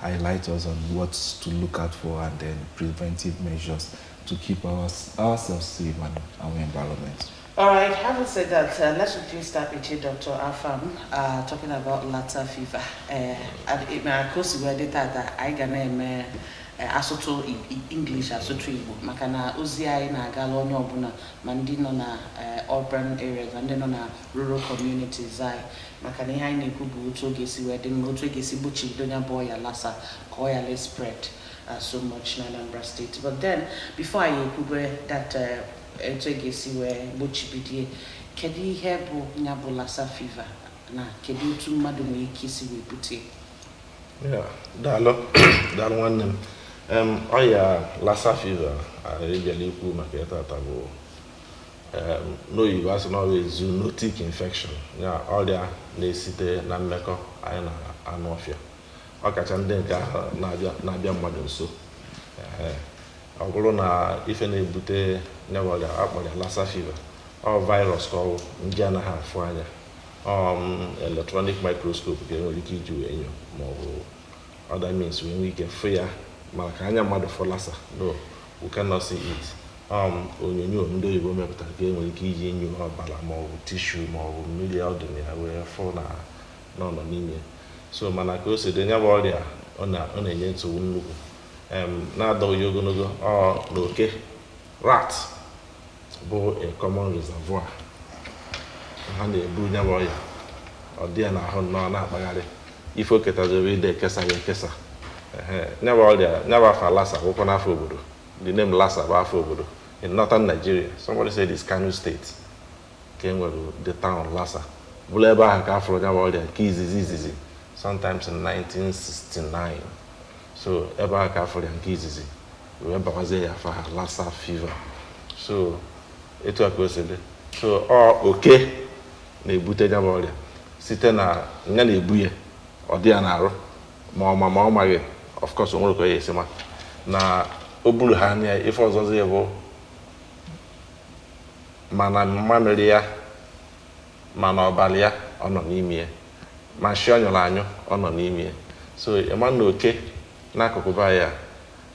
highlight us on what to look out for and then preventive measures to keep our, ourselves safe and our environment. All right, having said that, uh, let's quickly start with you, Dr. Afam, uh, talking about Lassa fever. Uh, and ịma ka o si wee dị tata anyị ga na-eme asụtụ English asụtụ Igbo maka na ozi anyị na-agala onye ọbụla ma ndị nọ na urban areas na ndị nọ na rural communities anyị maka na ihe anyị na-ekwu bụ otu ọ ga-esi wee dị mma otu a ga-esi gbochibido ya bụ ọya Lassa ka ọ ghalụ spread uh, so much na Anambra State but then before anyị ekwube that uh, otu a ga-esi wee gbochibido ya kedu ihe bụ ya bụ Lassa fever na kedu otu mmadụ nwere ike isi wee bute daalụ daalụ nwanne m ọya Lassa fever anyị bịara ikwu maka ya tata bụ n'oyibo a sị na ọ bụ zoonotic infection ya ọrịa na-esite na mmekọ anyị na anụ ọfịa ọ kacha ndị nke ahụ na-abịa mmadụ nso ọ bụrụ na ife na-ebute nya bụ ọrịa a kpọrọ Lassa fever ọ virus ka ọ wụ nje anaghị afụ anya ọ electronic microscope ka e nwere ike iji wee nyo maọbụ other means wee nwee ike fụ ya mana ka anya mmadụ fụ Lassa no we cannot see it um, onyonyo ndị oyibo mepụtara ka e nwere ike iji nyo ọbara maọbụ tissue maọbụ mmiri ọ dị na ya wee fụ na ọ nọ n'ime so mana ka o si dị nya bụ ọrịa ọ na-enye nsogbu nnukwu n'adọghị ya ogologo ọ na oke rat bụ a common reservoir ha na-ebu nya bụ ọya ọ dị ya n'ahụ nnọọ na-akpagharị ife o ketaziri ide ekesa ya ekesa nya bụ ọrịa nya bụ afa Lassa wụkwanụ afa obodo the name Lassa bụ afa obodo in northern Nigeria somebody said it's Kano state ka e nwere the town Lassa bụrụ ebe ahụ ka a fụrụ nya bụ ọrịa nke izizi izizi sometimes in 1969 so ebe a ka a fụrụ ya nke izizi wee bawazie ya afa ahụ Lassa fever so etu a ka o si dị so ọ oke na-ebute ya bụ ọrịa site na nya na-ebu ya ọ dị ya n'arụ ma ọ ma ma ọ maghị of course o nwerọ ka ọ ya-esi ma na o bu ọrịa nya ife ọzọzi bụ ma na mmamịrị ya ma na ọbara ya ọ nọ n'ime ya ma nshị ọ nyụrụ anyụ ọ nọ n'ime ya so ịma na oke n'akụkụ be anyị a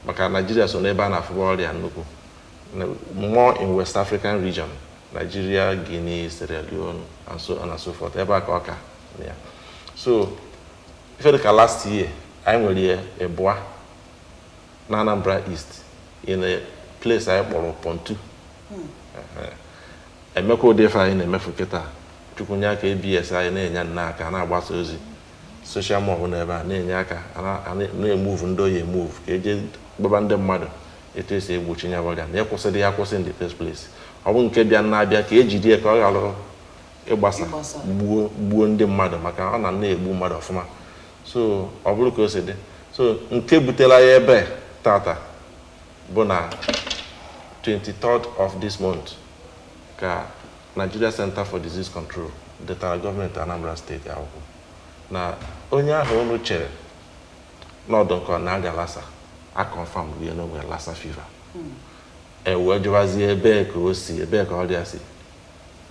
maka Nigeria so n'ebe a na-afụba ọrịa nnukwu more in West African region Nigeria, Guinea, Sierra Leone and so on and so forth ebe a ka ọ ka na ya so ife dịka last year anyị nwere ya ịbụa na Anambra East in a place anyị kpọrọ Pontu emekwa ụdị ife anyị na-emefu kịta chukwu nye aka ABS anyị na-enye nna aka na-agbasa ozi social mob na ebe a na-enye aka na-emuvu ndị oyi emuvu ka eje gwaba ndị mmadụ etu esi egbochi nya bụ ọrịa na ịkwụsị ya akwụsị in the first place ọ bụ nke bịa na-abịa ka ejide ya ka ọ ghara ịgbasa gbuo ndị mmadụ maka ọ na na-egbu mmadụ ọfụma so ọ bụrụ ka o si dị so nke butela ya ebe tata bụ na 23rd of this month ka Nigeria Center for Disease Control detara gọọmenti Anambra steeti akwụkwọ na onye ahụ unu chere na ọ dị ka ọ na-arịa Lassa a confirm rie na o nwere Lassa fever ewee jụwazie ebee ka o si ebee ka ọrịa si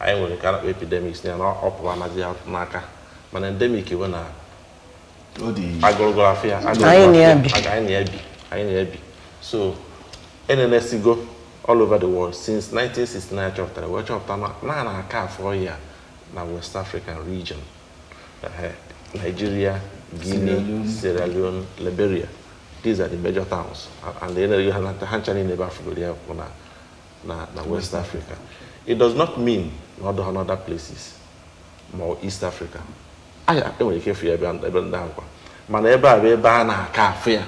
anyị nwere nke a na-akpọ epidemics ya na ọ pụrụ anazi ya n'aka mana endemic bụ na agụrụgụrụ afọ ya anyị na-ebi anyị na-ebi so enenesigo all over the world since 1969 chọpụtara wee chọpụta na a na-aka afụ ya na West African region Nigeria Guinea Sierra Leone Liberia these are the major towns and then ha ncha niile ebe afụgoro ya kwụ na na na west africa it does not mean na ọ dịghị n'other places ma ọ east africa anyị enwere ike fụ ya ebe ebe ndị ahụ kwa mana ebe a bụ ebe a na-aka afụ ya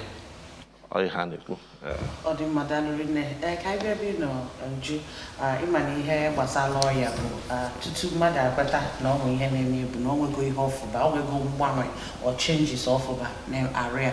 ọ ihe a na-ekwu Eh, ọ dị mma daalụ rinne ee ka anyị bịa ebe ị nọ Uju ah, ịma na ihe gbasara ọya bụ ah, tutu mmadụ amata na o nwee ihe na-eme ya bụ na o nwego ihe ọ fụba o nwego mgbanwe or changes ọ fụba n'arụ ya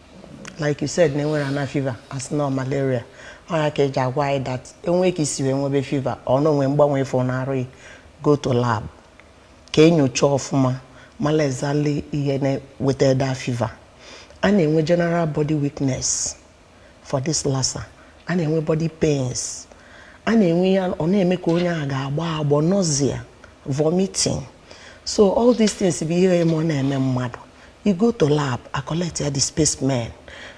like you said na enwere ana fever asị na ọ malaria ọ ya ka eji agwa anyị that o nwee ka isi wee nwebe fever or na o nwe mgbanwe ị fụ n'arụ gị go to lab ka enyocha ọfụma mala exactly ihe na-eweta that fever a na-enwe general body weakness for this lassa a na-enwe body pains a na-enwe ya ọ na-eme ka onye ahụ ga-agbọ agbọ nausea vomiting so all these things bụ ihe eme ọ na-eme mmadụ you go to lab a collect ya the specimen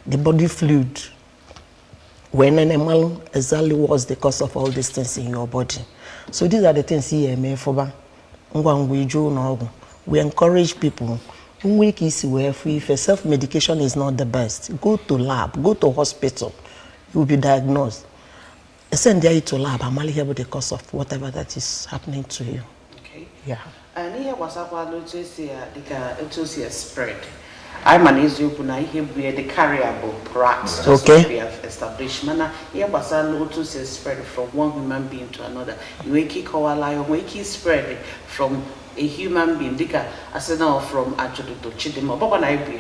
the body fluid wee nene malụ exactly what's the cause of all these things in your body so these are the things ihe eme fụba ngwa ngwa ị jee ụlọ ọgwụ we encourage people nwe ka isi wee fụ ife self medication is not the best go to lab go to hospital you will be diagnosed Send you to lab a mala ihe bụ the cause of whatever that is happening to you. Okay. Yeah. n'ihe gbasakwa n'otu esi ya dịka otu o si e spread anyị ma na eziokwu na ihe bụ the carrier bụ rat okay. established mana ihe gbasara otu o si espread from one human being to another nwee ike ịkọwala anyị nwee ike spread from a human being dịka a sị na ọ from ajụjụ Chidinma ọgbakwa na ibu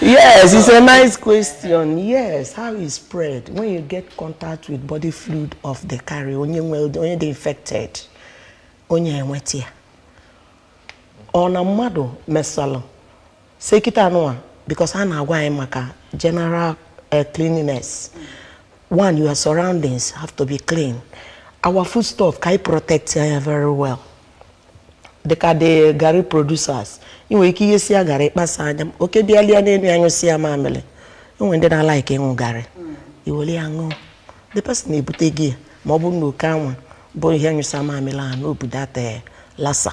yes it's a nice question yes how it's spread when you get contact with body fluid of the carrier onye nwe onye dị infected onye enweta ya ọ na mmadụ mesalụ Say kịta nụwa because a na-agwa anyị maka general eh, cleanliness one your surroundings have to be clean our food stuff ka anyị protect ya very well dịka the garri producers ị nwere ike ighesịa garri kpasaa ya oke bịa lịa n'elu ya nyụsịa mamịrị enwere ndị na-alike ịṅụ garri i were ya ṅụọ the person ebutego ya ma ọ bụrụ na oke anwa bụ ihe nyụsa mamịrị ahụ na o bu that Lassa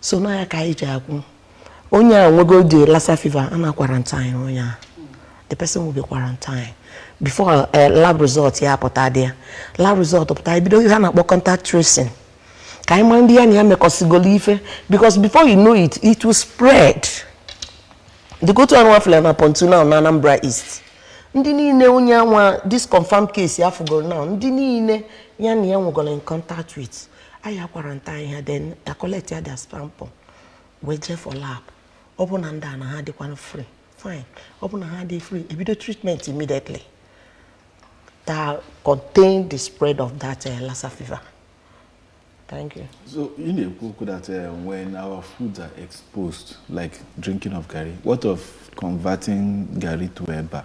so na ya ka anyị ji akwụ onye a nwego the Lassa fever a na quarantine onye a the person will be quarantine before eh, lab result ya pụta the lab result pụta bido ihe a na-akpọ contact tracing ka anyị mara ndị ya na ya mekọsigolo ife because before you know it it will spread the go to anwafela na pontu now na Anambra East ndị niile onye anwa this confirmed case a fụgoro now ndị niile ya na ya nwegoro in contact with anyị a quarantine ha then a collectịa their sample wee jee for lab ọ bụ na ndị a na ha dịkwanụ free fine ọ bụ na ha adịghị free e bido treatment immediately to contain the spread of that uh, Lassa fever. Thank you. So, ị na-ekwu that uh, when our foods are exposed, like drinking of gari, what of converting gari to eba?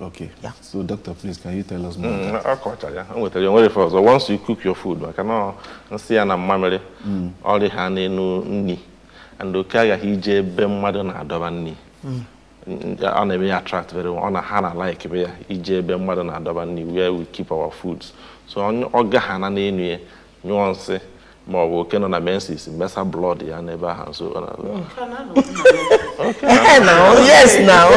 Okay. Yeah. So, doctor, please, can you tell us more? Mm, ọ kachaa ya, anyị ewete were ọzọ. Once you cook your food, maka na nsị ya na mamịrị. Mm. Ọ dịha n'enu nni, and oke aghaghị ije ebe mmadụ na-adọba nni. Mm. Ọ na-eme ya attract very well. Ọ na ha na like be ya ije ebe mmadụ na-adọba nni where we keep our foods. So ọ gahana n'enu ya nyụọ nsị ma ọ bụ oke nọ na menses mesa blood ya n'ebe ahụ so yes now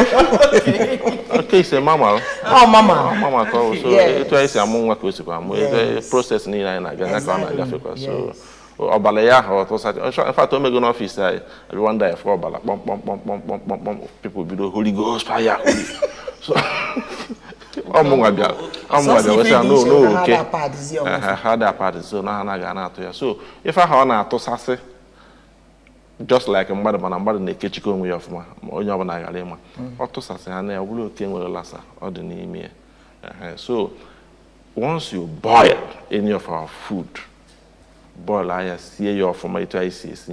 oke is a mammal ọ mammal mammal ka ọ so etu anyị si amụ nwa ka o sikwa amụ the process niile anyị na-agafe ka ọ na-agafekwa so ọbara ya ahụ ọ tụsasị in fact o mego n'ọfis anyị everyone na-afụ ọbara kpọmkpọmkpọmkpọmkpọmkpọm people bido holy ghost fire so ọ mụnwa bịa ọ mụnwa bịa weta na oke ha adịghị a pad so na ha na-aga ọ na-atụ ya so ife ahụ ọ na-atụsasị just like mmadụ mana mmadụ na-ekechikwa onwe ya ọfụma ka onye ọbụla ghara ịma mm. ọ tụsasịhana ya ọ bụrụ oke nwere Lassa ọ dị n'ime ya so once you boil any of our food boilịa ya sie ya ọfụma etu anyị si esi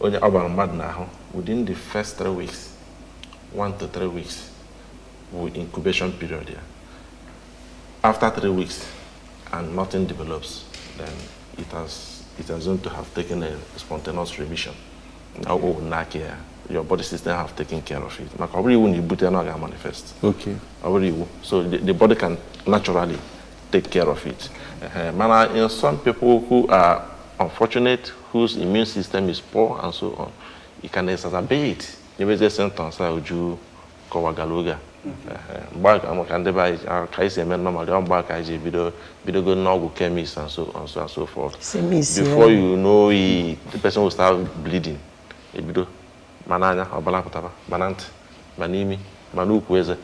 once ọ bara mmadụ n'ahụ within the first three weeks one to three weeks bụ incubation period ya after three weeks and nothing develops then it has it has known to have taken a spontaneous remission na ọ n'aka ya your body system have taken care of it maka ọ bụrọ iwu na i bute na ọ ga-amanifest okay ọ bụrọ iwu so the, the body can naturally take care of it uh, mana in some people who are unfortunate whose immune system is poor and so on it can exacerbate nyebezie symptoms a Uju kọwagara oge a mgbe a ga-ama ka ndị be anyị a- ka anyị si eme normal gaa mgbe a ka anyị ji ebido bidogo n'ọgwụ chemist and so on so and so forth Chemist, before yeah. you know it the person will start bleeding ebido ma n'anya ọbala pụtaba ma na ntị ma n'imi ma n'ukwu eze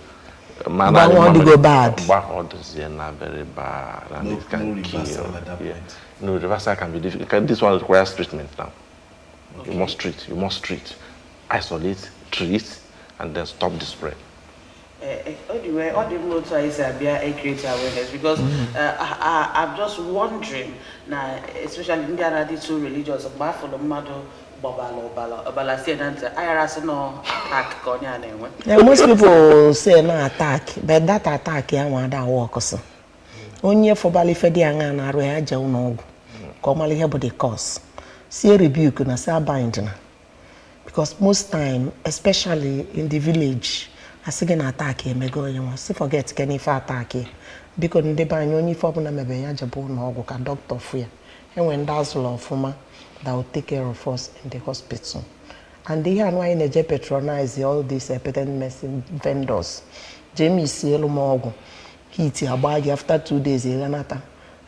ma Mgbe ahụ ọ dịgo bad. mgbe ahụ ọ dịzie na very bad and No- it can no kill reversal you. at that Yeah. point. no reversal can be difficult Can- this one requires treatment now you must treat you must treat isolate treat and then stop the spread Eh, eh, anyway ọ dị mma otu anyị si abịa e create awareness because mm. eh, I'm just wondering na especially ndị a na-adị too religious mgbe a fụlụ mmadụ gbabalụ ọbala ọbala sie na ntị a yara sị na attack ka onye a na-enwe most people say na attack but that attack ya nwa ada awork so onye fụbalụ ife dị aṅa n'arụ ya jee ụnọ ọgwụ ka ọ malụ ihe bụ the cause sie rebuke na si abind na because most time especially in the village a sị gị na attack emego onye nwa sị forget kene ife attack ya biko ndị be anyị onye ife ọbụna mebe ya jebe ụnọ ọgwụ ka doctor fụ ya e nwe ndị a zụlụ ọfụma that will take care of us in the hospital and ihe anụ anyị na-eje patronize all these patent medicine vendors jee mixielu m ọgwụ heat agbaa gị after two days ị ghanata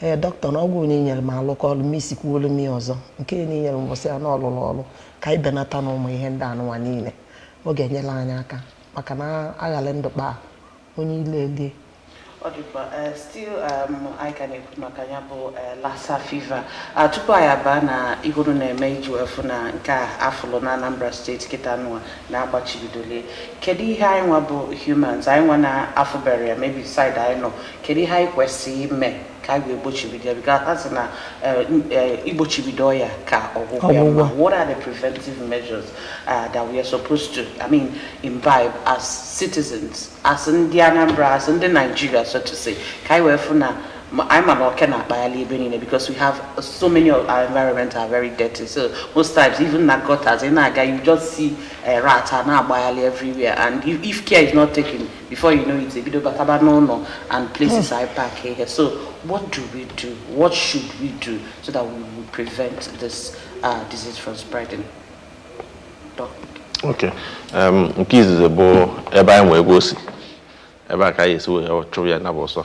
ee doctor na ọgwụ i nyere m alụka ọlụ mixikwuolu m ya ọzọ nke na i nyere mbụ sị ya na ọ lụlụ ọlụ ka anyị benata na ụmụ ihe ndị anụnwa niine ọ ga-enyelụ anyị aka maka na a ghalụ ndụ kpaa onye ilo elie ọ dị mkpa eh, still um, anyị ka na-ekwu maka ya bụ eh, lassa fever Ah, tupu anyị abaa na ihe unu na-eme iji wee fụ na nke a a fụlụ na Anambra state kịta nụwa na a gbachibidolụ ya kedu ihe anyị nwa bụ humans anyị nwa na-afụberọ ya maybe side anyị nọ kedu ihe anyị kwesịrị ime ka anyị wee gbochibido ya because a sị na eh, eh, igbochibido ọya ka ọgwụgwọ ya mma what are the preventive measures uh, that we are supposed to i mean imbibe as citizens as ndị Anambra as ndị Nigeria so to say ka anyị wee fụ na anyị ma na oke na-akpagharị ebe niile because we have so many of our environment are very dirty so most times even na gutters ị na-aga you just see a eh, rat a na-agbagharị everywhere and if, if care is not taken before you know it ebido bataba n'ụlọ and places hmm. a pack ihe so what do we do what should we do so that we will prevent this uh, disease from spreading Doctor. okay um, nke izizi bụ ebe anyị nwe ego si ebe a ka anyị esi wee chụrụ ya na bụ ọsọ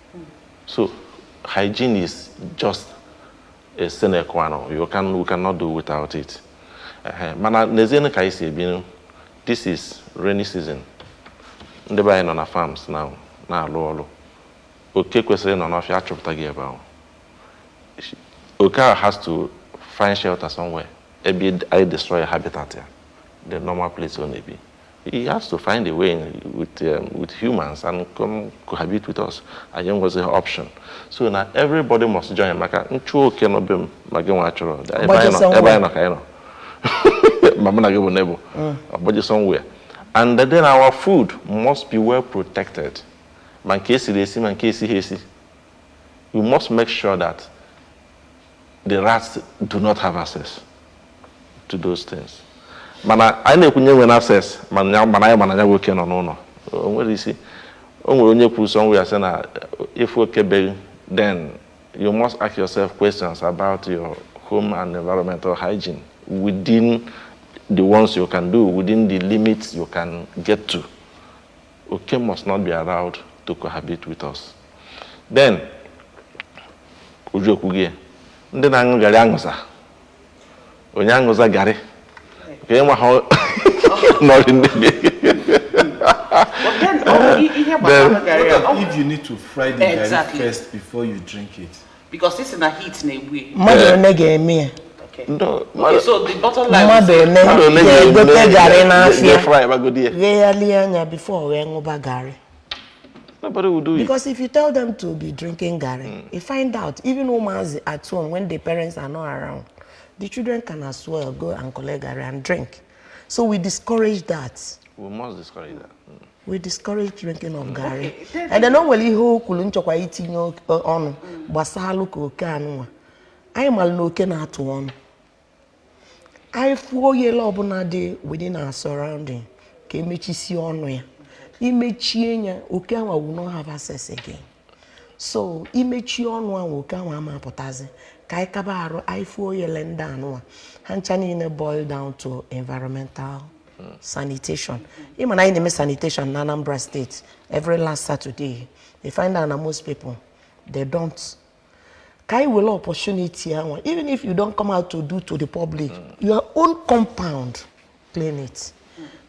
So hygiene is just a sine qua non. You can you cannot do without it. Uh-huh. Mana nezienụ ka anyị si ebinụ this is rainy season. Ndị be anyị nọ na farms now na-alụ ọlụ. Oke kwesịrị ịnọ n'ọfịa achụpụtago ya ebe ahụ. Oke ahụ has to find shelter somewhere. Ebe anyị destroy habitat ya, the normal place ọ na-ebi. He has to find a way with, um, with humans and come cohabit with us. Anyị enwezi option. So na everybody must join maka m chụọ oke nọ be m ma gị nwa achụrọ ebe anyị nọ ebe anyị nọ ka anyị nọ. Ma mụ na gị bụ neighbour. Ọ gbaje somewhere. And then our food must be well protected. Ma nke esiri esi ma nke esighị esi. We must make sure that the rats do not have access to those things mana anyị na-ekwunye nwere access mana anyị ma na ya bụ oke nọ n'ụnọ o nwere isi o nwere onye kwuru somewhere sị na if oke be gị then you must ask yourself questions about your home and environmental hygiene within the ones you can do within the limits you can get to. Oke must not be allowed to cohabit with us. Then, Uju ekwugo ya ndị na-aṅụ garị aṅụza onye aṅụza garị ka ị nwa ha nọrị ndụ Then, if you need to fry the exactly. garri first before you drink it. Because this is a heat na-egbu ya. Mmadụ one ga-eme ya. mmadụ ole ga-egote garị n'afịa ghegharịa anya bifo wee ṅụba garị Nobody will do it. Because if you tell them to be drinking Gary, mm. you find out even women's at home when the parents are not around, the children can as well go and collect Gary and drink. So we discourage that. We must discourage that. Mm. we discourage drinking of garri and then o nwere ihe o kwulu m chọkwa itinye ọnụ gbasalụ ka oke anụnwa anyị mara na oke na-atụ ọnụ anyị fụ oyele ọbụna dị within our surrounding ka e mechisie ọnụ ya i mechie ya oke anwa will not have access again so i mechie ọnụ anwa oke anwa ama apụtazi ka anyị kaba arụ anyị fụ oyele ndị anụnwa ha ncha niile boil down to environmental sanitation ịma na anyị na-eme sanitation na Anambra steeti every last Saturday they find out na most people they don't ka anyị were opportunity ahụ even if you don't come out to do to the public your own compound clean it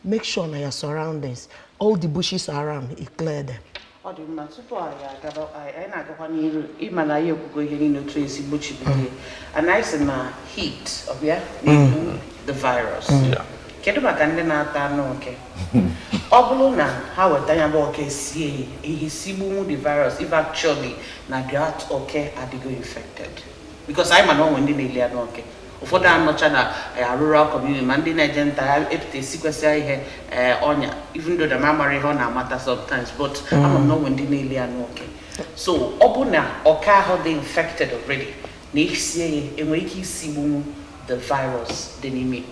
make sure na your surroundings all the bushes around you clear them ọ dị mma tupu anyị agaba anyị na-agakwa n'iru ị ma na anyị ekwugo ihe niile otu e si egbochibido ya and anyị sị na heat ọ bụ ya na-egbu mm. the virus mm. kedu maka ndị na-ata anụ oke ọ bụlụ na ha weta ya bụ oke sie ha ya-esigbunwu the virus if actually na that oke adịgo infected because anyị ma na o nwe ndị na-eli anụ oke ụfọdụ anọcha na eh, rural community ma ndị na-eje nta ha epụta esikwesịa ihe eh, ọnya even though na m amarọ ihe ọ na-amata sometimes but ama m na o nwe ndị na-eli anụ oke so ọ bụ na oke ahụ dị infected already na i sie ya enwere ike isigbu the virus dị n'ime ya.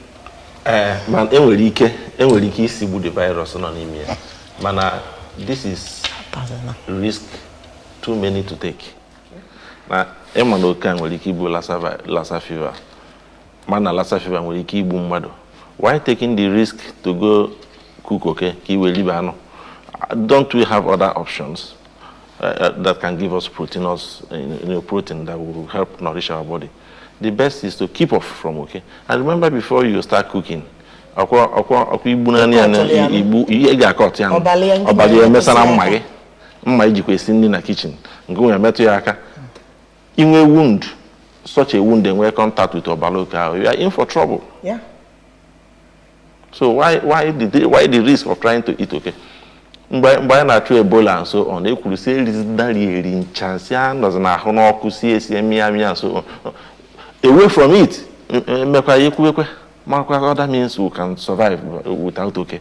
ee ma enwere ike enwere ike isigbu the virus nọ n'ime ya mana this is risk too many to take na ị ma na oke a nwere ike ibu Lassa fever ma na Lassa fever nwere ike igbu mmadụ why taking the risk to go cook oke ka i wee ribe anụ don't we have other options uh, uh, that can give us protein us uh, you know, protein that will help nourish our body the best is to keep off from oke and remember before you start cooking ọ kwa igbu naanị ya igbu ihe ga-akọt ya ọbala ya emesa na mma gị mma i jikwa esi nri na kitchen nke nwere metụ gị aka i nwee wound such a wound enwee contact with ọbara oke ahụ you are in for trouble yeah. so why, why, the, why the risk of trying to eat oke? mgbe anyị na-achụ Ebola and so on ekwuru sị erizidari eri ncha nsi a nọzi na-ahụ n'ọkụ si esi mịa mịa and so away from it mmekwa ya ekwuwekwe makwa other means we can survive without oke.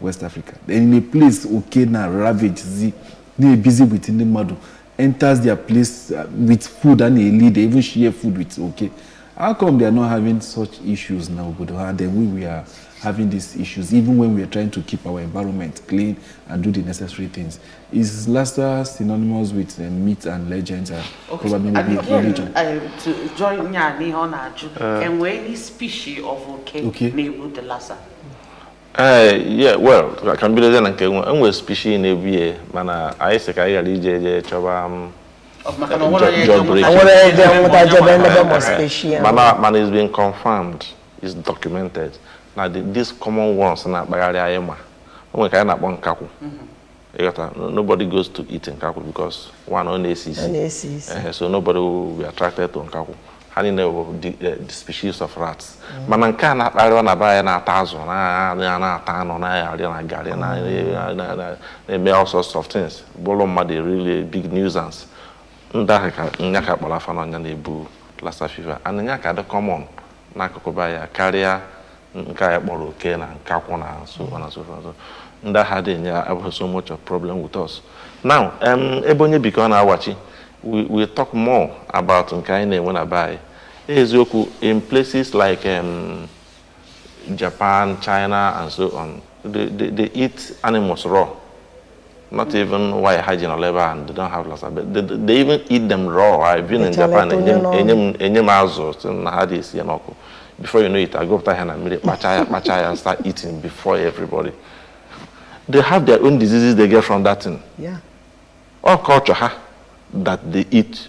West Africa in a place oke na ravage zi na-ebizi with ndị mmadụ enters their place uh, with food a na-eli they even share food with oke how come they are not having such issues na obodo ha then we we are having these issues even when we are trying to keep our environment clean and do the necessary things is Lasta synonymous with uh, myth and legends and okay. probably maybe again, religion uh, to join ya n'ihe ọ na-ajụ enwee any species of oke okay. na-egbu the Lasta ee yeah well ka m bidozie na nke nwe enwere species na-ebu ya mana anyị sị ka anyị ghara ije je chọba m maka na onwere onye Jọ- jọ break. nweta- Onwere ebe nweta jebe onye ndebe nweta- mọ speshia. mana mana it's been confirmed is documented na the, these common ones na-akpagharị anyị ma o nwere nke anyị na-akpọ nkakwụ ị ghọta nobody goes to eat nkakwụ because one ọ na-esi isi so nobody will be attracted to nkakwụ ha niile bụ eh, the species of rats mm. mana nke a na-akparịwa na be anyị na-ata azụ na-ata anụ na-arị na garị na-eme all sorts of things bụrụ mmadụ really big nuisance ndị ahụ ka nya ka a kpọrọ afa na nya na-ebu Lassa fever and nya ka dị common n'akụkụ be anyị karịa nke anyị kpọrọ oke na nkakwụ and so on and so forth ndị ahụ adị enye abụghị so much of problem with us now um, ebe onye bi ka ọ na-awachi we, we talk more about nke anyị na-enwe na be anyị eziokwu in places like um, Japan, China and so on they, they, they eat animals raw not even why ha ji nọrọ ebe a and they don't have Lassa but they, they even eat them raw I've been in Japan e nye m azụ sị na ha adị esi ya n'ọkụ before you know it a gụpụta ha na mmiri kpacha ya kpacha ya start eating before everybody they have their own diseases they get from that thing yeah. ọ culture ha that they eat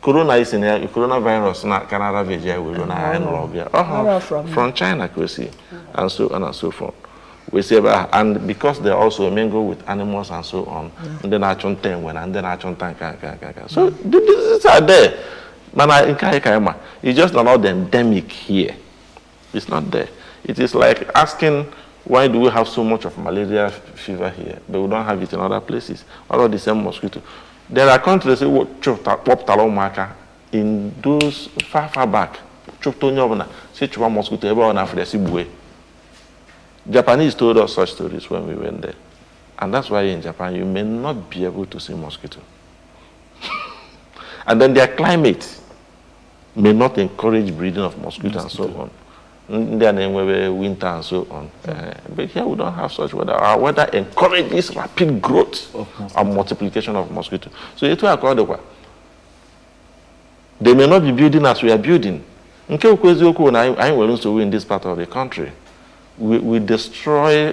corona isi na ya corona virus na ka na ravage ya were na anyị nọrọ ọgụ ya ọ Where hụrụ from? from China ka o si and so on and so forth wee si ebe ahụ and because they also mingle with animals and so on ndị na-achụ nta enwe na ndị na-achụ nta nka nka nka nka so the diseases are there mana nke anyị ka anyị ma it's just na ọ dị endemic here It's not there. It is like asking why do we have so much of malaria fever here, but we don't have it in other places? All of the same mosquito. There are countries that say, chọpụtara ụmụaka in those far far back chụpụta onye ọbụla si chụwa mosquito ebe ọ na-afụrụ si gbue Japanese told us such stories when we went there and that's why in Japan you may not be able to see mosquito and then their climate may not encourage breeding of mosquito and so on. Ndị a na-enwebe winter and so on. Uh, but here we don't have such weather. Our weather encourages rapid growth and multiplication of mosquito. So etu a ka ọ dịkwa. They may not be building as we are building. Nke bụ eziokwu na anyị nwere nsogbu in this part of the country. We, we destroy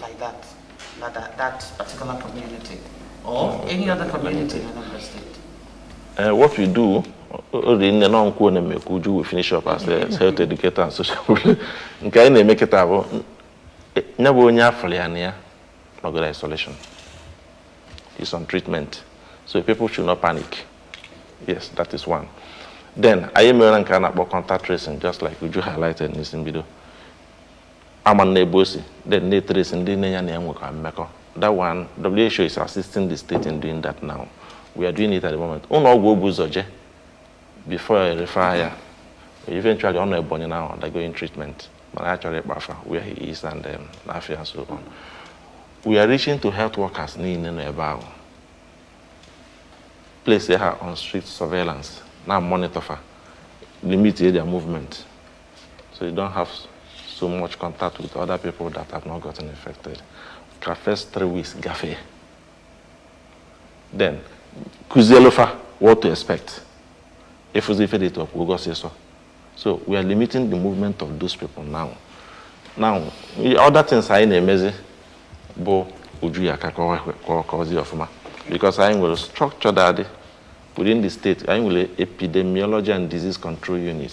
like that, na that, that particular community or any other community in Anambra State? Uh, what we do, Orinne na nkwu na mekwu Uju will finish up as a health educator and social worker. Nke anyị na-eme kịta bụ ya bụ onye a fụlụ ya na ya nọgo na isolation. He's on treatment. So people should not panic. Yes, that is one. Then anyị mere nke a na-akpọ contact tracing just like Uju highlighted n'isi mbido. a mana ebe o si then na-etresi ndị niile ya na ya nwekọ mmekọ that one WHO is assisting the state in doing that now we are doing it at the moment ụlọ ọgwụ o bu ụzọ je before e refer ya eventually ọ nọ Ebonyi now undergoing treatment mana a chọrọ ịkpọ afa where he is and um, na afa ya so on we are reaching to health workers niile nọ ebe ahụ place ha on strict surveillance na monitor fa limit their movement So you don't have so much contact with other people that have not gotten infected. The first three weeks, gafe. Then, kuzelofa, what to expect? If we fed it up, we'll go say so. So we are limiting the movement of those people now. Now, other things anyị na-emezi bụ uju ya ka kọzi ọfụma because anyị nwere structure that within the state anyị nwere epidemiology and disease control unit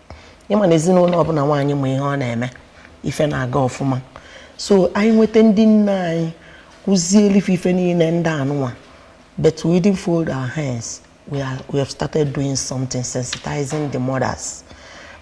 ị ma na ezinụlọ ọbụla nwaanyị ma ihe ọ na-eme ife na-aga ọfụma so anyị nweta ndị nne anyị kụzielu fa ife niile ndị anụnwa but we didn't fold our hands we, are, we have started doing something sensitizing the mothers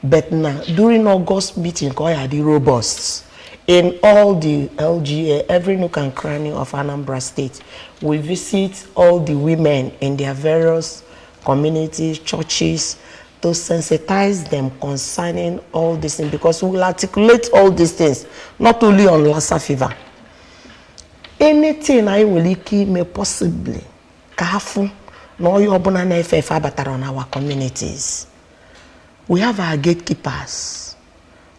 but na during August meeting ka ọ ya-adị robust in all the LGA every nook and cranny of Anambra State we visit all the women in their various communities churches to sensitize them concerning all these things because we will articulate all these things not only on Lassa fever anything anyị nwere ike ime possibly ka a fụ na ọya ọbụla na-efe efe abatarọ n'our communities we have our gatekeepers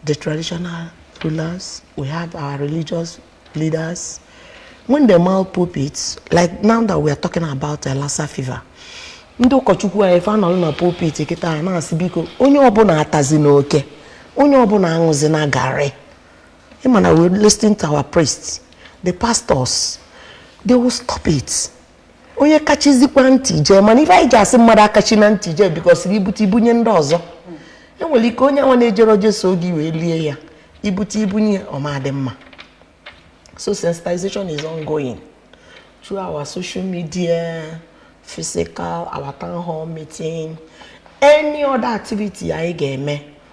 the traditional rulers, we have our religious leaders. When they mount pulpits, like now that we are talking about uh, Lassa fever, ndị ụkọchukwu anyị fa nọrọ na pulpit kịta na-asị biko onye ọbụla atazina oke onye ọbụla aṅụzina garị ị ma na we listening to our priests the pastors they will stop it onye kachizikwa ntị jee mana ife anyị ji asị mmadụ akachina ntị jee because i bute i bunye ndị ọzọ e nwere ike onye nwa na-ejerọ jee soo gị wee lie ya ibute i bunye ọ ma-adị mma so sensitization is ongoing through our social media physical our town hall meeting any other activity anyị ga-eme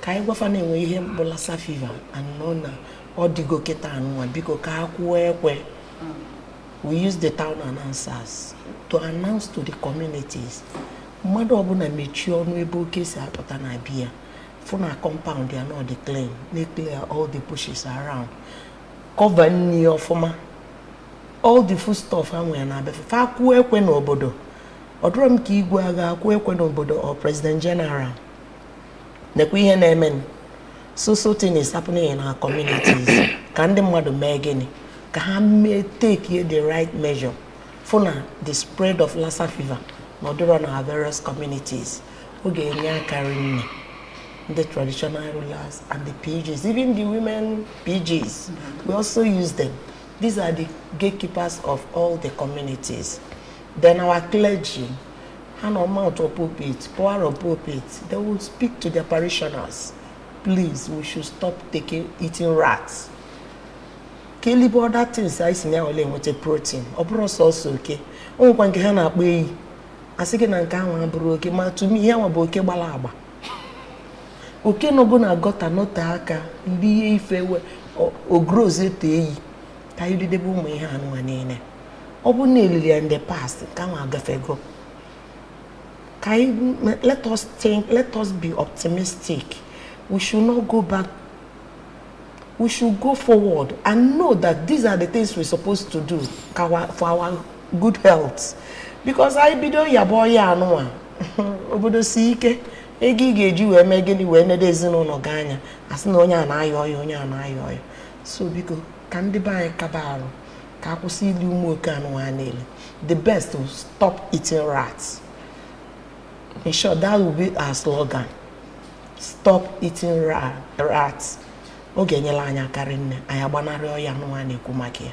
ka anyị gwa fa na e nwe ihe bụ lassa fever anọ na ọ dịgo kịta anụnwa biko ka a kụọ ekwe we use the town announcers to announce to the communities mmadụ ọbụla mechie ọnụ ebe oke si apụta na bịa fụ na compound ya na ọ dị clean na clear all the bushes around cover nni ọfụma all the food stuff ha nwere na be fa kụọ ekwe n'obodo ọ dịrọ m ka igwe ga-akụ ekwe n'obodo or president general nekwa ihe na-emenụ so so thing is happening in our communities ka ndị mmadụ mee gịnị ka ha mee take the right measure fụ na the spread of Lassa fever na ọ dịrọ na our various communities ọ ga-enye aka rinne the traditional rulers and the PGs even the women PGs we also use them these are the gatekeepers of all the communities Then our clergy, ha na-amount pulpit, power of pulpit, they will speak to their parishioners. Please, we should stop eating rats. Ka e libe other things anyị si na ya wele enweta protein, ọ bụrọ sọsọ oke. O nwekwa nke ha na-akpọ eyi. A sị gị na nke anwa abụrọ oke, ma to me ihe nwa bụ oke gbala agba. Oke nọgo na gutter nọte aka, lie ife wee growzie to eyi. ka anyị lidebe ụmụ ihe anụnwa niine ọ bụrụ na e lili ya in the past nke anwa agafego ka anyị let us think let us be optimistic we should not go back we should go forward and know that these are the things we're supposed to do for our good health because i bido yabụ ọya anụnwa obodo si ike ego ị ga-eji wee mee gịnị wee nedo ezinụnọ gị anya a sị na onye a na-aya ọya onye a na-aya ọya so biko ka ndị be anyị kaba arụ ka a kwụsị ili ụmụ oke anụnwa a na-eli the best to stop eating rats in short that will be our slogan stop eating rats ọ ga-enyela anyị aka rinne anyị agbanarị ọya anụnwa a na-ekwu maka ya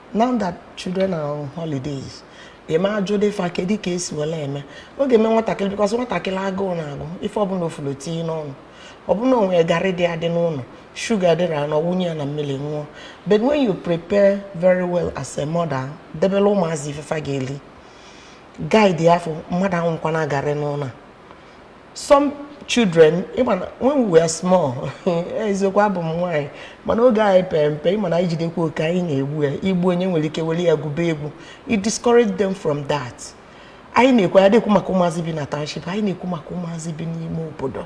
now that children are on holidays eme ajụ dị fa kedị ka e si wela eme ọ ga-eme nwatakịrị because nwatakịrị agụụ na-agụ ife ọbụna ọ fụlụ ọ tinye n'ọnụ ọbụna o nwe garị dị adị n'ụnọ shuga dịrị anọ wunye ya na mmili ṅụọ but when you prepare very well as a mother debela ụmụazị ife fa ga-eli guide ya afọ mmadụ aṅụkwana garị n'ụnọ a some children even when we were small eziokwu abụ m nwaanyị mana oge anyị pere mpe ịma na anyị jidekwa oke anyị na-egbu ya egbu onye nwere ike were ya gwuba egwu it discourage them from that anyị na-ekwu ya dịkwu maka ụmụazị bi na township anyị na-ekwu maka ụmụazị bi n'ime obodo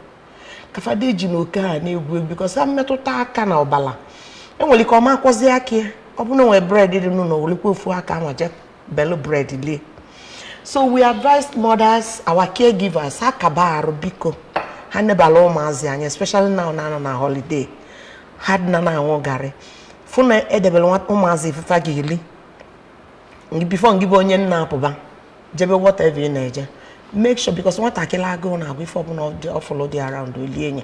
ka fa ada eji na oke a na-egwu egwu because ha metụta aka na ọbala e nwere ike ọ ma akwọzi aka ya ọ bụrụ na e nwere bread dị n'ụlọ werekwa ofu aka nwa je belu bread lie so we advise mothers our caregivers ha kaba arụ biko ha nebala ụmụazị anya especially now na a nọ na holiday ha dịna na aṅụ garị fụ na e debere ụmụazị ife fa ga-eli before ngị bụ onye nna apụba jebe whatever ị na-eje make sure because nwatakịrị agụụ na-agụ ife ọbụla ọ fụlụ dị around o lie nye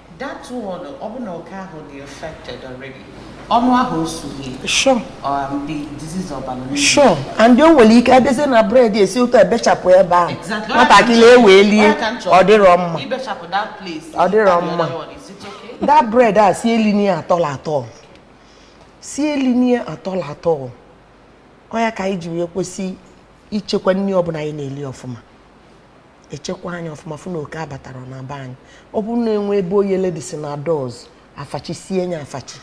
That one, ọ bụ na oke ahụ dị affected already. Ọnụ ahụ osughị. Sure. Um, the disease ọ balụ. Sure. And o nwere ike abịazie na bread esi otu ebechapụ ebe ahụ. Exactly. Nwatakịrị ewee lie, ọ dịrọ mma. Ibechapụ that place. Ọ dịrọ mma. That bread a sị elinie atọla atọ. Sị elinie atọla atọ. Ọ ya ka anyị ji wee kwesị ichekwa nri ọbụla anyị na-eli ọfụma. echekwa nya ọfụma fụ na oke abatarọ na be anyị ọ bụrụ na e nwee ebe oyele dị sị na doors afachisie nye afachi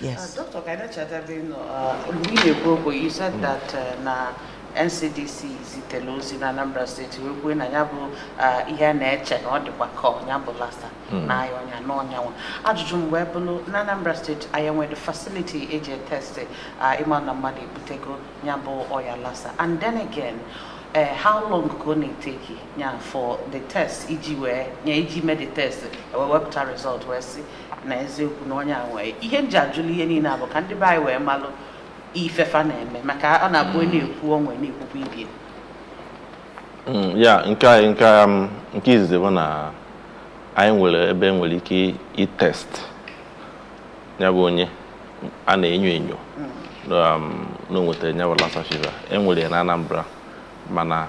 yes uh, Dr. Kainachadabe, you know, uh, we dey go, but you said that uh, na NCDC zitere ozi na Anambra State wee kwuo na ya bụ uh, ihe a na-eche na ọ dịkwa ka nya bụ Lassa hmm. na-aya onye a na onye nwa ajụjụ m wee bụrụ na Anambra State anyị nwere facility e ji etesti uh, ịma na mmadụ ebutego ya bụ ọya Lassa and then again eh, how long ka ọ na-eteki ya for the test iji wee ya iji mee the test wee wepụta result wee sị na eziokwu na onye a nwee ihe m ji ajụlụ ihe niile a bụ ka ndị be anyị wee malụ ife fa na-eme maka ọ na-abụ onye na-ekwu onwe na-ekwukwa ibie Mm, ya nke anyị nke a, mm, nke izizi bụ na anyị nwere ebe e nwere ike itest ya bụ onye a na-enyo enyo um, na o nwetara ya bụ Lassa fever e nwere ya na Anambra mana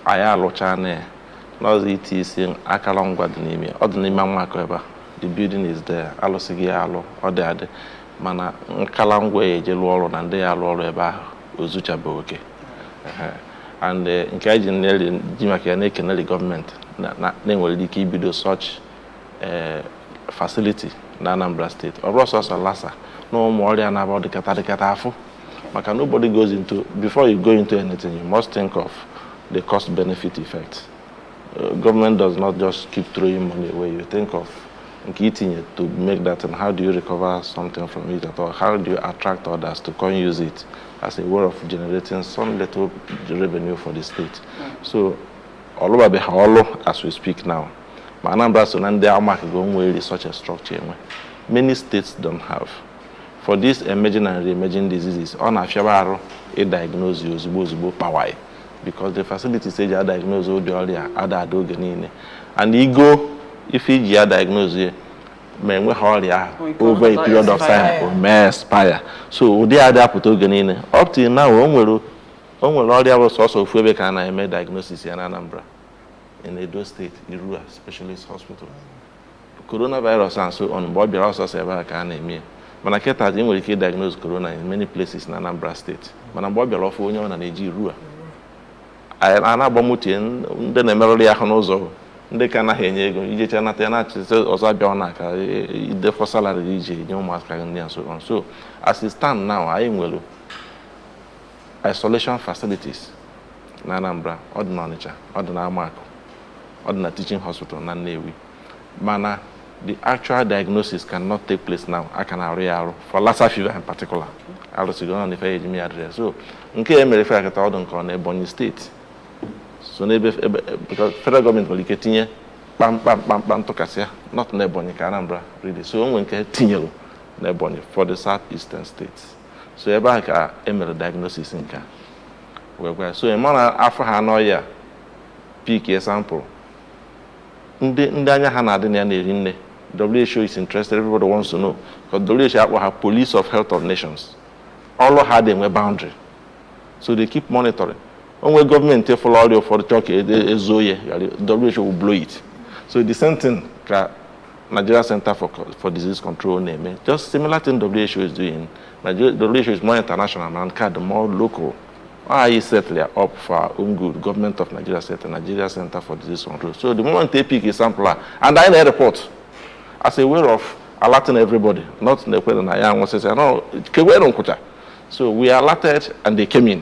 anyị alụchaa na ya n'ụzọ itiisi akara ngwa dị n'ime ya. ọ dị n'ime Amaku ebe a the building is there alụsịgo ya alụ ọ dị adị mana nkala ngwa ya eji lụọ ọrụ na ndị ya-alụ ọrụ ebe ahụ o zuchabeghị oke Ehe. and eh, nke anyị ji na-eli- ji maka ya na-ekeneli gọọmenti na- na- na e nwere ike ibido such ee eh, facility na Anambra State ọ bụrụ sọsọ Lassa na ụmụ ọrịa na-abịa dịkata dịkata afụ maka nobody goes into before you go into anything you must think of the cost benefit effect eh, government does not just keep throwing money away you think of nke itinye to make that and how do you recover something from it at all how do you attract others to come use it as a way of generating some little revenue for the state hmm. so ọ lụbabeghị ọlụ as we speak now ma Anambra so na ndị amaghịgo nwere such structure enwe many states don't have for these emerging and re-emerging diseases ọ na-afịaba arụ ịdiagnose ozugbo ozugbo kpawaị because the facilities eji adiagnose ụdị ọrịa ada adị oge niile and igo ife iji adiagnose ya ma enweghị ọrịa ahụ over a period of time o mee expire so ụdị a ada apụta oge niile up till now o nwere ọrịa bụ sọsọ ofu ebe ka a na-eme diagnosis ya na Anambra in Edo State, Irua Specialist Hospital. Coronavirus and so on, mgbe ọ bịara ọ sọsọ ebe a ka a na-eme ya. Mana kịta ị nwere ike diagnose corona in many places na Anambra State. Mana mgbe ọ bịara ọfụ onye ọ na na-eje Irua. A na-agba moto ndị na-emerụrụ ya ahụ n'ụzọ ndị ka anaghị enye ego ijecha nata ya na-achịzi ọzọ abịa na aka idefọ salary iji nye ụmụaka nri and so on so as it stand now anyị nwere isolation facilities na Anambra ọ dị n'Ọnịcha ọ dị n'Amakụ ọ dị na teaching hospital na Nnewi mana the actual diagnosis cannot take place now a ka na-arụ ya arụ for Lassa fever in particular arụsigo na ife eji ya adịrọ so nke a emere ife a kịta ọ bụ nke ọ na Ebonyi State so because federal government nwere ike tinye kpamkpam kpamkpam tụkasịa not na Ebonyi ka Anambra really so o nwee nke e tinyere na Ebonyi for the south eastern states so ebe ahụ ka e mere diagnosis nke a wee gwa ya so ị mara afụ ha n'ọya pick a sample ndị ndị anya ha na-adị na ya na-eri nne WHO is interested everybody wants to know because WHO a kpọ ha police of health of nations ọlụ ha adị enwe boundary so they keep monitoring o nwee government fụlụ ọrịa ụfọdụ chọọ ka e zoo ya ghara WHO will blow it so the same thing ka Nigeria Center for Disease Control na-eme just similar thing WHO is doing, WHO is more international ma nke a dị more local anyị setili ya up for our own good government of Nigeria set Nigeria Center for Disease Control so the moment they pick a sample a and anyị na-report as a way of alerting everybody not na e kwere na a ya-anwụsịsị no ka e were nkwụcha so we alerted and they came in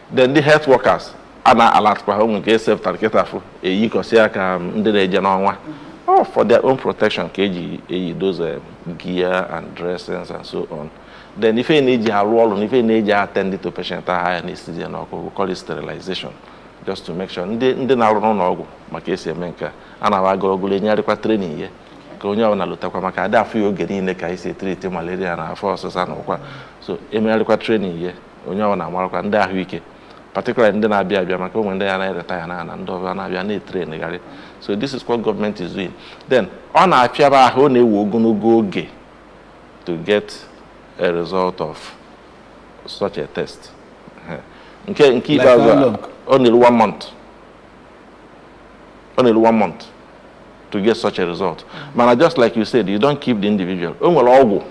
then the health workers a na-alertkwa ha o nwekwa safety jacket afụ eyikọsị ya ka um, ndị na-eje n'ọnwa all for their own protection ka eji eyi those um, gear and dressings and so on then ife ị na-eji arụ ọrụ na ife ị na-eji attend to patient ahụ a na-esizi ya n'ọkụ we call it sterilization just to make sure ndị ndị na-arụ n'ụlọ ọgwụ ma ka esi eme nke a a na agụrụgụrụ enyegharịkwa training ya ka onye ọbụla lotakwa maka adị afụ ya oge niile ka anyị si etreat malaria na afọ ọsịsa na ụkwa so emegharịkwa training ya onye ọbụna amarakwa ndị ahụike particularly ndị na-abịa abịa maka o nwee ndị ya na-eretire na ndị ọbịa na-abịa a na-etraingharị so this is what government is doing then ọ na-afịaba ahụ ọ na-ewe ogologo oge to get a result of such a test nke nke ikpeazụ ọ na-eru one month ọ na-eru one month to get such a result mana just like you said you don't keep the individual o nwere ọgwụ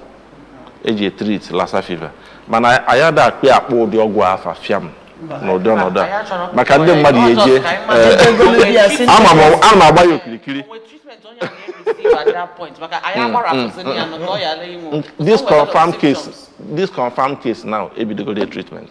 eji treat lassa fever mana anyị ada akpị akpọ ụdị ọgwụ afa fiam n'ụdị ọnọdụ a maka ndị mmadụ ya eje eh, ama m a na-agba ya okirikiri this confirmed case now ebidogoro treatment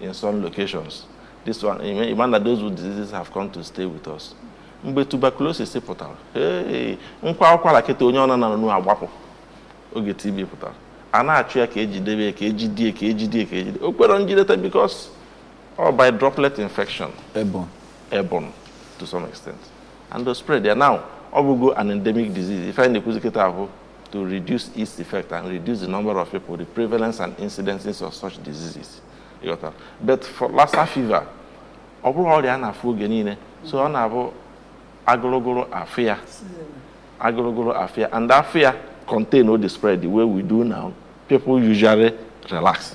in some locations this one you mean that those with diseases have come to stay with us mgbe tuberculosis pụtara m kwaa ụkwara kịta onye ọbụna nọnụ agbapụ oge TB pụtara a na-achụ ya ka ejidebe ya ka ejidie ka ejidie ka ejide o kwere njideta because ọ by droplet infection airborne to some extent and the spread ya now ọ bụgo an endemic disease ife anyị na-ekwuzi kịta bụ to reduce its effect and reduce the number of people, the prevalence and incidences of such diseases. You got that? But for Lassa fever, ọ bụrọ ọrịa a na-afụ oge niile so ọ na-abụ agụrụgụrụ afụ ya agụrụgụrụ afụ ya and afụ ya contain all the spread the way we do now people usually relax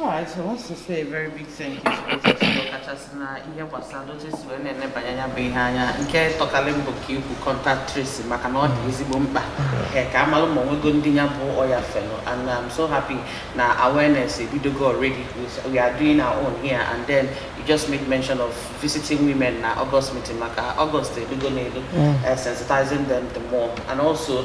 Alright, so I want to say a very big thank you to both of you kachasị na ihe gbasara otu esi wee na-enebanye anya bụ ihe anya nke tọkarị mbụ ka ikwu contact tracing maka na ọ dị ezigbo mkpa ee ka amalụ ma onwego ndị nya bụ ọya felu and I'm so happy na awareness ebidogo already we are doing our own here and then you just make mention of visiting women na August meeting maka August ebidogo na-elu sensitizing them the more and also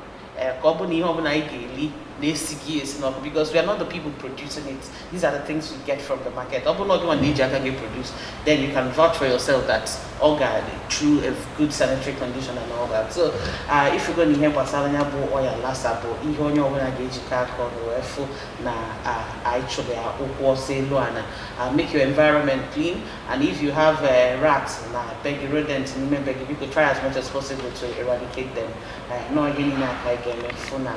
eh, ka ọ bụ na ihe ọbụla anyị ga-eli na-esighị esi n'ọkụ because we are not the people producing it these are the things we get from the market ọ bụ na ọ gịnwa na-eji aka gị produce then you can vouch for yourself that ọ ga through a good sanitary condition and all that so uh, ị fụgo na ihe gbasara ya bụ ọya Lassa bụ ihe onye ọbụla ga-ejikọ aka ọnụ wee fụ na uh, anyị chụrụ ya ụkwụ ọsọ elu ana uh, make your environment clean and if you have uh, rats na be gị rodent n'ime be gị biko try as much as possible to eradicate them n'oge niile aka anyị ga-eme fụ na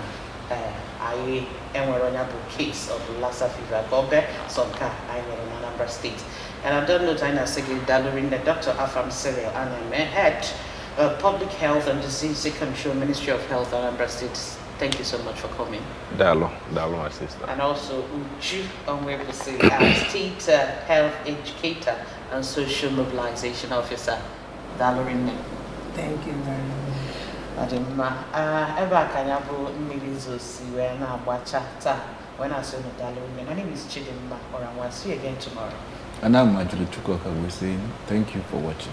anyị enwerọ onye bụ case of Lassa fever ka ọ bee sọ nke a anyị nwere na Anambra steeti and on that note anyị na-asị gị daalụ rinne Dr. Afam Cyril Anaeme head uh, Public Health and Disease Control Ministry of Health Anambra State Thank you so much for coming. Daalụ, daalụ, my sister. And also Uju Onwuegbuzina, state uh, health educator and social mobilization officer. daalụ rinne Thank you very much. ọ dị mma Ah, ebe a ka nya bụ mmiri zosi wee na-agbacha taa wee na-asị unu daalụ rinne my name is Chidimma Orangwa see you again tomorrow And I'm Ajuluchukwu Okagbue saying thank you for watching.